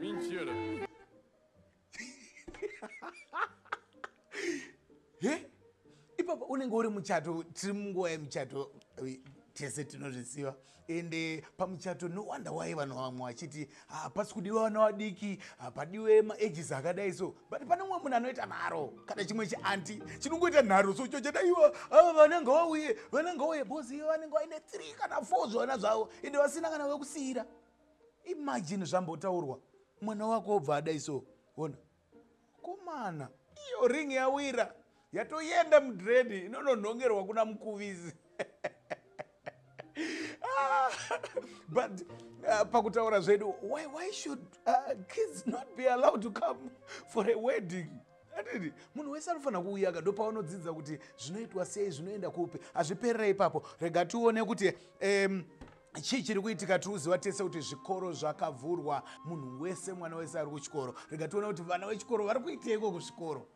Mentira. He? Ipapa unenge uri muchato tiri munguva yemuchato tese tinozviziva. Ende pamuchato no wonder why vanhu vamwe vachiti hapasi ah, kudiwa vana vadiki hapadiwe ah, maages akadai so but pane mumwe munhu anoita nharo kana chimwe chianti chinongoita nharo so cho chadaiwa ava ah, vana ngavauye vana ngauye bcause ivo vanenge vaine three kana four zvevana zvavo ende vasina kana vekusiira imagine zvambotaurwa mwana wako obva adai so ona Mukomana iyo ring yawira yatoyenda mudread inononhongerwa kuna mukuvisi ah, but uh, pakutaura zvedu why, why should uh, kids not be allowed to come for a wedding atiti munhu wese anofanira kuuyaka ndopaunodzidza kuti zvinoitwa sei zvinoenda kupi hazviperera ipapo rega tione kuti um, Chii chiri kuitika? Tiri kuziva tese kuti zvikoro zvakavhurwa. Munhu wese, mwana wese ari kuchikoro. Rega tione kuti vana vechikoro vari kuiteiko kuzvikoro.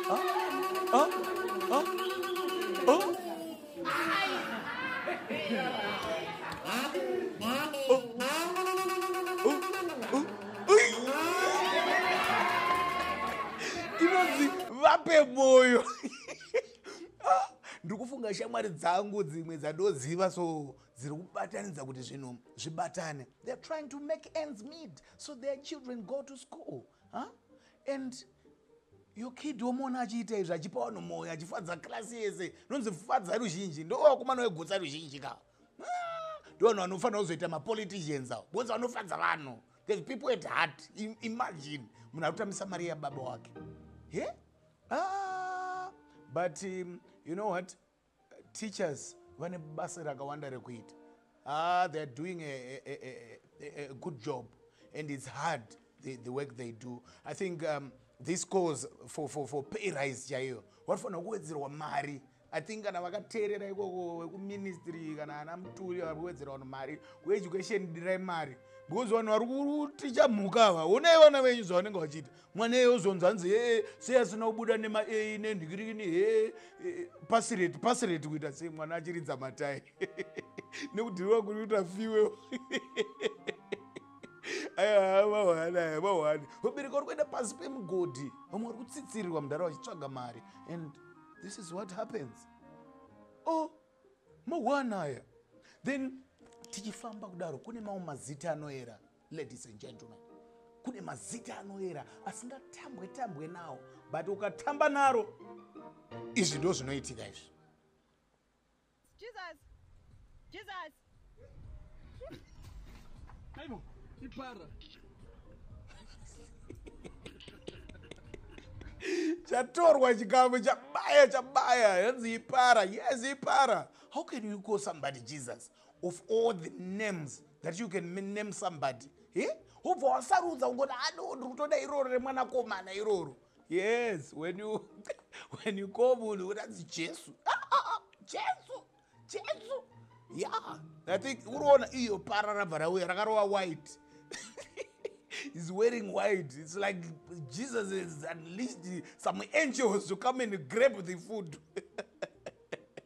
Oh, oh, oh, oh. inonzi vape moyo ndiri kufunga shamwari dzangu dzimwe dzandoziva so dziri kubatanidza kuti zvinhu zvibatane they're trying to make ends meet so their children go to school Huh? And your kid womuona achiita izvi achipa vanhu moyo achifadza class yese nonzi fadza ruzhinji ndovakomana wegutsa ruzhinji ka ndovanhu vanofanira kuzoita mapoliticians avo bonzi vanofadza vanhu there's people at heart imagine munhu ari kutambisa mari yababa wake he ah, but um, you know what Teachers vane basa rakawanda rekuita haa they are doing a, a, a, a, a good job and it's hard the, the work they do i think um, this calls for, for, for pay rise chaiyo vanofanira kuwedzerwa mari i think kana vakateerera ikoko vekuministry kana ana muturi vari kuwedzera vanhu mari kueducation dirai mari because vanhu vari kuticha mhuka ava honai vana venyu zvavanenge vachiita mwana eye ozonzi hanzi hee sei asina kubuda nemaei nenhikirikini hee eh, pasireti pasireti kuita sei mwana achiridza matai nekudhiriwa kuri kuita fiwe aya mahwani aya mahwani vabereki vari kuenda pasi pemugodhi vamwe vari kutsitsirirwa mudhara vachitsvaga mari and this is what happens o oh, mahwani aya then tichifamba kudaro kune mamwe mazita anoera Ladies and gentlemen, kune mazita anoera asingatambwe tambwe nawo but ukatamba naro izvi ndo zvinoitika izvi. Jesus. Jesus. Aibo, ipara. chatorwa chikamu chabaya chabaya hanzi ipara yes ipara how can you call somebody jesus of all the names that you can name somebody he ubva wasarudza ungoti ado ah, ndiri kutoda iroro remwanakomana iroro yes when you when you call munhu uranzi jesu ah, ah, ah, jesu jesu ya i think uriona iyo para rabva rauya rakarova white is wearing white its like jesus is unleashed some angels to come and grab the food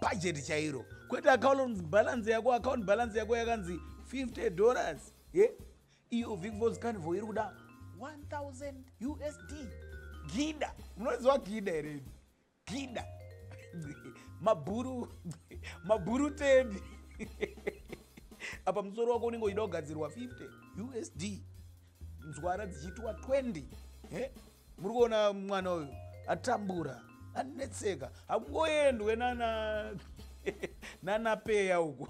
bhajeti chairo kwete akaunonzi bhalansi yako akaunti bhalansi yako yakanzi 50 dollars ye iyo vicvos carnival iri kuda 1000 usd gida munoziva gida here gida mabhuru mabhuru tedi apa musoro wako unenge uchida kugadzirwa 50 usd nzwara dzichiitwa 20 he muri kuona mwana uyu atambura anetseka hakungoendwe nana nanapeya uku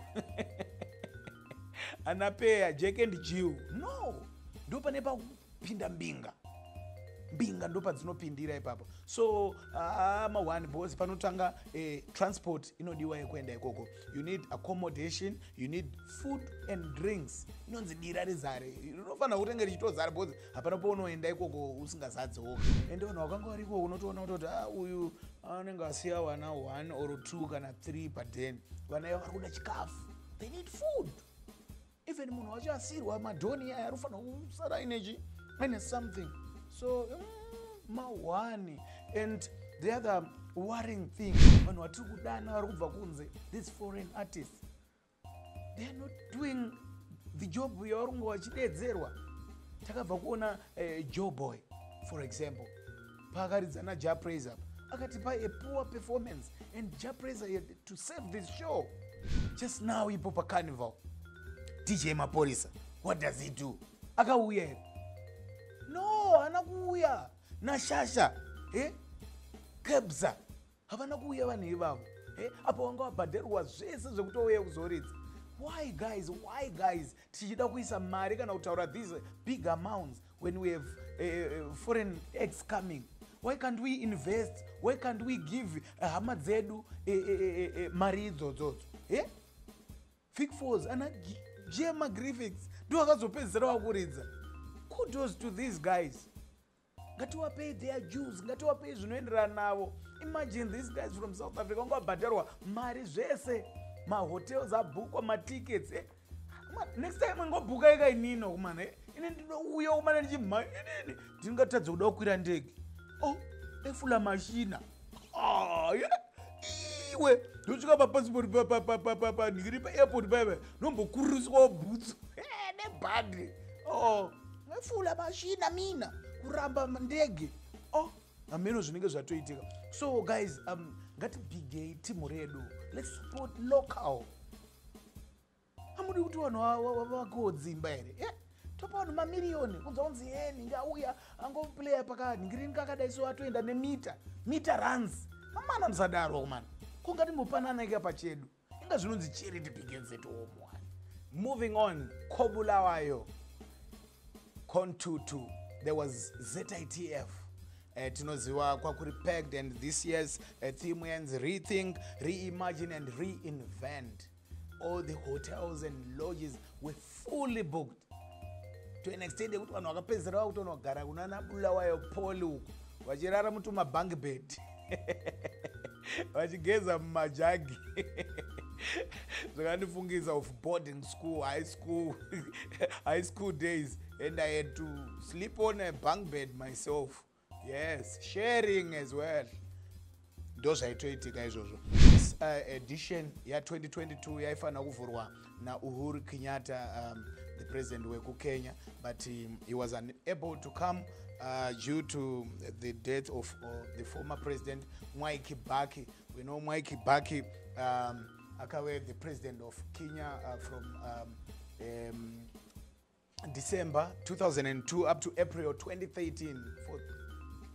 anapeya jack and jill no ndo pane pakupinda mbinga mbinga ndo padzinopindira ipapo so uh, ma one bos panotanga eh, transport inodiwa yekuenda ikoko you need accommodation you need food and drinks inonzi dira rizare rinofanira kutenge richitozara bos hapana paunoenda ikoko usingazadze woga ende vanhu vakanga vari ikoko unotoona kutoti a ah, uyu anenge asiya vana one or two kana three paden vana iva vari kuda chikafu they need food even munhu wacho asirwa madhoni iyaya anofanira kusara inechi aine something so mm, mahwani and the other worrying thing vanhu vatiri kudana vari kubva kunze these foreign artists they are not doing the job yavarunga vachidedzerwa takabva kuona eh, joe boy for example paakaridza naja praise apa akatipa a poor performance and ja praise had to save this show just now ipo pacarnival dj maporisa what does he do akauya here no ana kuuya nashasha eh? kebza havana kuuya vanhu ivavo eh, apa wanga wabhadharwa zvese zvekutouya kuzoridza why guys why guys tichida kuisa mari kana kutaura these big amounts when we have uh, foreign ex coming why can't we invest why can't we give hama dzedu uh, uh, uh, uh, mari idzodzodzo eh? fik fors ana jema griffiths ndo akazopedzisira wakuridza kudos to these guys ngatiwapei their jews ngatiwapei zvinoenderana navo imagine these guys from south africa vanga vabhadharwa mari zvese mahotels abhukwa matickets eh? next time ngobhuka ika inino kumana eh? ini ndinouya kumana ndichimha inini ndingatadza kuda kukwira ndege o oh, efula mashina aya iwe ndosvika papasipoti papapapapa ndikiri paairport paiva ndombokururiswawo bhutsu nebhadhi o mefula mashina mina kuramba ndege o hameno zvinenge zvatoitika so guys um, ngatibigei timu redu let's support local amudi kuti vanhu vavakiwo dzimba here eh, topa vanhu mamiriyoni kunza kunzi ye nhingi auya angoplayer pakanhingirini kakadai so atoenda nemita mita runs amana musadaro mani kungati mupananaika pachedu inga zvinonzi charity begins at home one moving on kobulawayo contutu there was zitf Eh, tinoziva kwakuri packed and this year's eh, theme yanzi rethink reimagine and reinvent all the hotels and lodges were fully booked to an extent yekuti vanhu vakapedzisira vakutonogara kunana bulawayo poli uku vachirara mutumabank bed vachigeza mumajagi zvakandifungisa of boarding school high school high school days and i had to sleep on a bank bed myself yes sharing as well ndozvaitoitika izvozvo this uh, edition ya 2022 yaifanira kuvhurwa nauhuru kenyatta um, the president wekukenya but um, he was unable to come uh, due to the death of uh, the former president mwai kibaki we know mwai kibaki um, akave the president of kenya uh, from um, um, December 2002 up to April 2013 for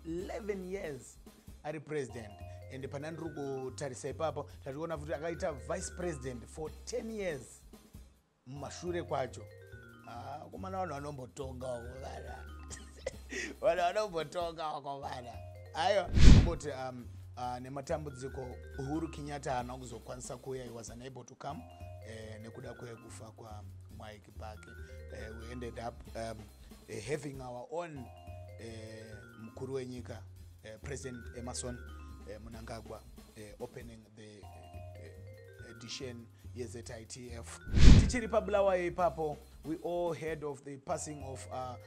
11 years ari president and pane ndiri kutarisa ipapo tationa futi akaita vice president for 10 years mumashure kwacho ah, kumana vanhu vanombotonga wakovana vanhu vanombotonga wakovana aiwa amboti um, uh, nematambudziko uhuru kenyatta haana kuzokwanisa kuuya he was unable to come eh, nekuda kwekufa kwamwai back uh, we ended up um, uh, having our own uh, mukuru wenyika uh, president emerson uh, munangagwa uh, opening the uh, edition yezitf tichiri pabulawayo ipapo we all heard of the passing of uh,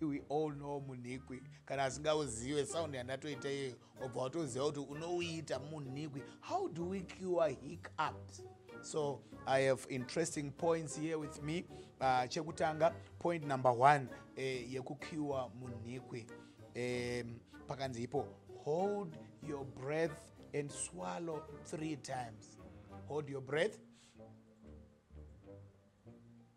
we all know munhikwi kana asingauzive sound yandatoita iyeyo wabva watoziva kuti unouita munhikwi how do we cure hiccups so i have interesting points here with me uh, chekutanga point number one eh, yekucure munhikwi um, pakanzi ipo hold your breath and swallow three times hold your breath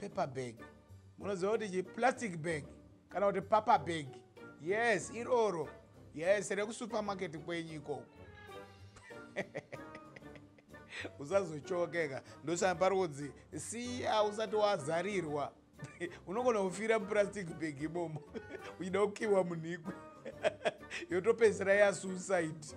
paper bag munoziva kuti chi plastic bag kana kuti paper bag yes iroro yes rekusupermarket kwenyu ikoko usazochokeka ndosana pari kunzi siya usati wazarirwa unogona kufira muplastic bag imomo uchida kukiwa munhikwe yotopedzisira yasuicide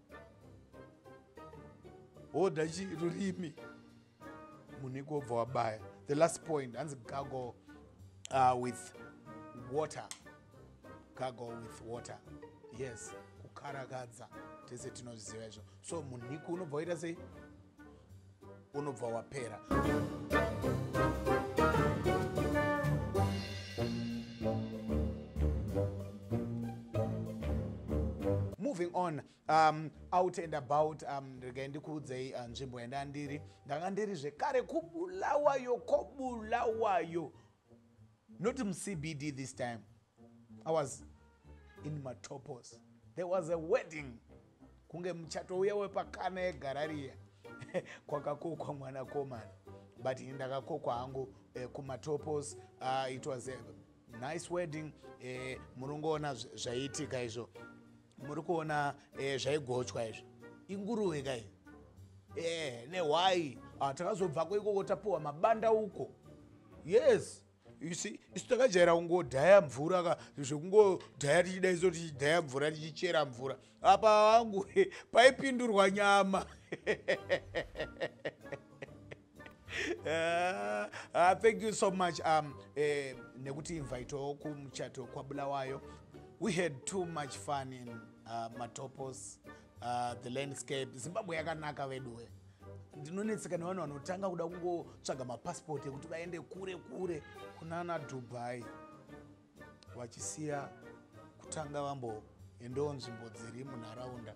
woda chi rurimi munhu ikobva wabaya the last point hanzi gago uh, with water gago with water yes kukarakadza tese tinozviziva izvo so munhiku unobva waita sei unobva wapera moving on um, out and about um, regai ndikuudzei uh, nzvimbo yandanga ndiri ndanga ndiri zvekare kubulawayo kobulawayo Not muCBD this time. I was in Matopos. There was a wedding. Kunge muchato uya wepakana yegarariya kwakakokwa mwana komana. But ini ndakakokwa hangu eh, kuMatopos. Uh, it was a nice wedding. Eh, murongoona zvaiitika izvo. muri kuona eh, zvaigochwa izvi inguruve kai eh, nehwai ah, takazobvako ikoko tapiwa mabanda uko yes isi isu takajaira kungodhaya mvura ka zvekungodhaya tichida iso tichidhaya mvura tichichera mvura apa wangu paipindurwa nyama Uh, uh, thank you so much um, eh, nekuti invitewo kumuchato kwabulawayo we had too much fun in uh, matopos uh, the landscape zimbabwe yakanaka veduwe ndinonetseka nevanhu vanotanga kuda kungotsvaga mapassport ekuti vaende kure kure kunana dubai vachisiya kutanga vamboendewo nzvimbo dziri munharaunda